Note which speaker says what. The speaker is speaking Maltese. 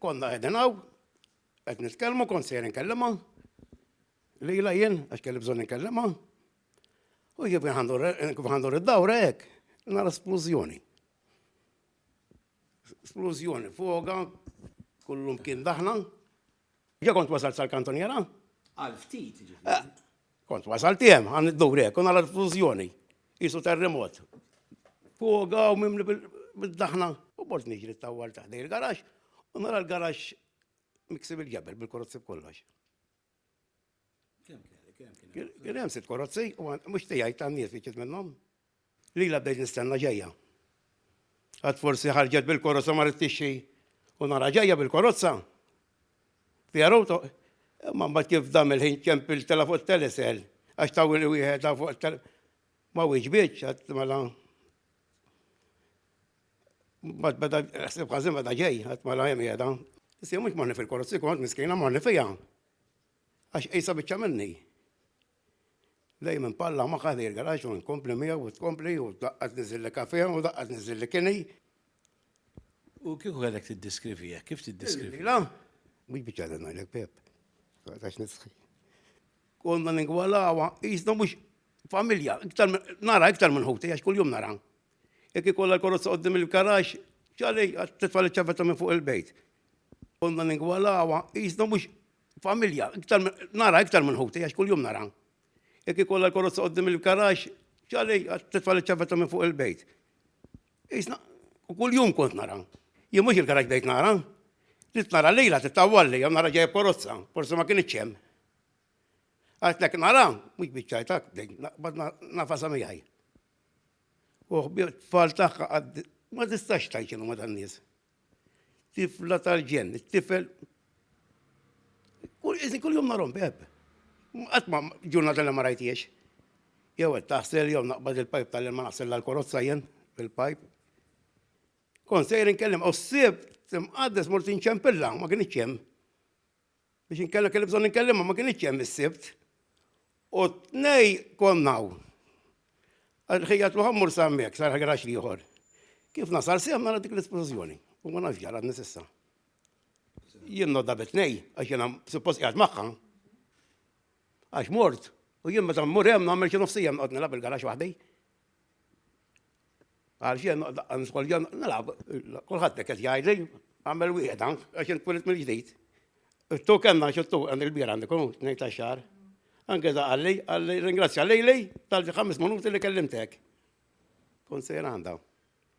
Speaker 1: Konna qegħdin hawn, qed nitkellmu kont sejjer inkellima, lejla jien għax kelli bżonn inkellima. U kif għandur id-dawra hekk, nara splużjoni. Splużjoni fuga, kullum kien daħna, Ġa kont wasalt sal-kantoniera? Għal ftit,
Speaker 2: ġifiri. Eh,
Speaker 1: kont wasalt jem, għan id-dur hekk, u nara l-fużjoni. Isu terremot. Fuga u mimli bil-daħna. U bort niġri t-tawwal ta' dej il-garax, u nara l-garax miksib il-ġebel bil-korozzi b'kollox. Kien hemm sitt korozzi, u mhux tiegħi tan-nies li ġiet minnhom. Lilha bdejt nistenna ġejja. Għad forsi ħarġet bil-korozza marret tixtri u nara ġejja bil-korozza. Fiha rowta, imma mbagħad kif dam il-ħin ċempil tela' fuq it-telesel għax tawwili wieħed fuq it-telesel. Ma wieġbitx għad mela. Mbagħad beda ħsib ħażin beda ġej għad mela hemm qiegħda. Issa mhux morni fil-korozzi kont miskina morni fiha. Għax qisha biċċa minni. Dejjem inpalla magħha lejn il-garaġġ u nkompli miegħu u tkompli u daqqa tniżilli kafè u daqqa tniżilli kini.
Speaker 2: U kieku kellek tiddeskrivi hekk, kif tiddeskrivi? La, mhux
Speaker 1: biċċa li ngħidlek Pep. Għax nistħi. Konna ningwalawa, jisna mhux familja, iktar nara iktar minn ħuti għax kuljum nara. Jekk ikollha l-korozza qoddim il-garaġġ, ċalej għat-titfa li ċavetta minn fuq il-bejt. Konna ningwalawa, jisna mhux familja, nara iktar minn ħuti, għax kull-jum nara. Jek ikolla l-korozza għoddim il-karax, ċali, t-tfal ċavetta minn fuq il-bejt. Isna, u kull-jum kont nara. Jien mux il-karax bejt nara. Rit nara lejla, t-tawalli, jom nara ġejja korozza, forse ma kien iċċem. Għatlek nara, mux bieċajtak, bad nafasa miħaj. Uħbi, tfal taħħa, ma tistax tajċinu ma dan-nis. Tifla tal-ġenn, it-tifel. Kull jum narom beb. Qatt ma ġurnata li ma rajtiex. Jew qed taħsel jew naqbad il-pajp tal-ilma naħsel l-korozza jien fil-pajp. Kon sejr inkellem, u s-sib timqaddes mort inċempilla, ma kienx hemm. Biex inkella kelli bżonn inkellimha ma kinitx hemm is-Sibt. U tnej konna hawn. Ħejjat ruħha mmur sa hemmhekk, sar ħagarax ieħor. Kif nasal sehem nara dik l-esplużjoni. U ma nafx ġara għadni s'issa. Jien nodda bitnej, għax jiena suppost qiegħed magħha. Għax mort, u jien meta mmur hemm nagħmel xi nofsija nqgħod nilgħab il-garax waħdi. Għal xejn noqgħod niskolja nilgħab. Kulħadd qed jgħidli għamel wieħed ank għax int twilit mill-ġdid. Tu kellna xi tu għand il-bier għandi kun ngħid tax-xahar. Anke da qalli, qalli ringrazzja lejli tal-ħames minuti li kellimtek. Kun sejr għandha.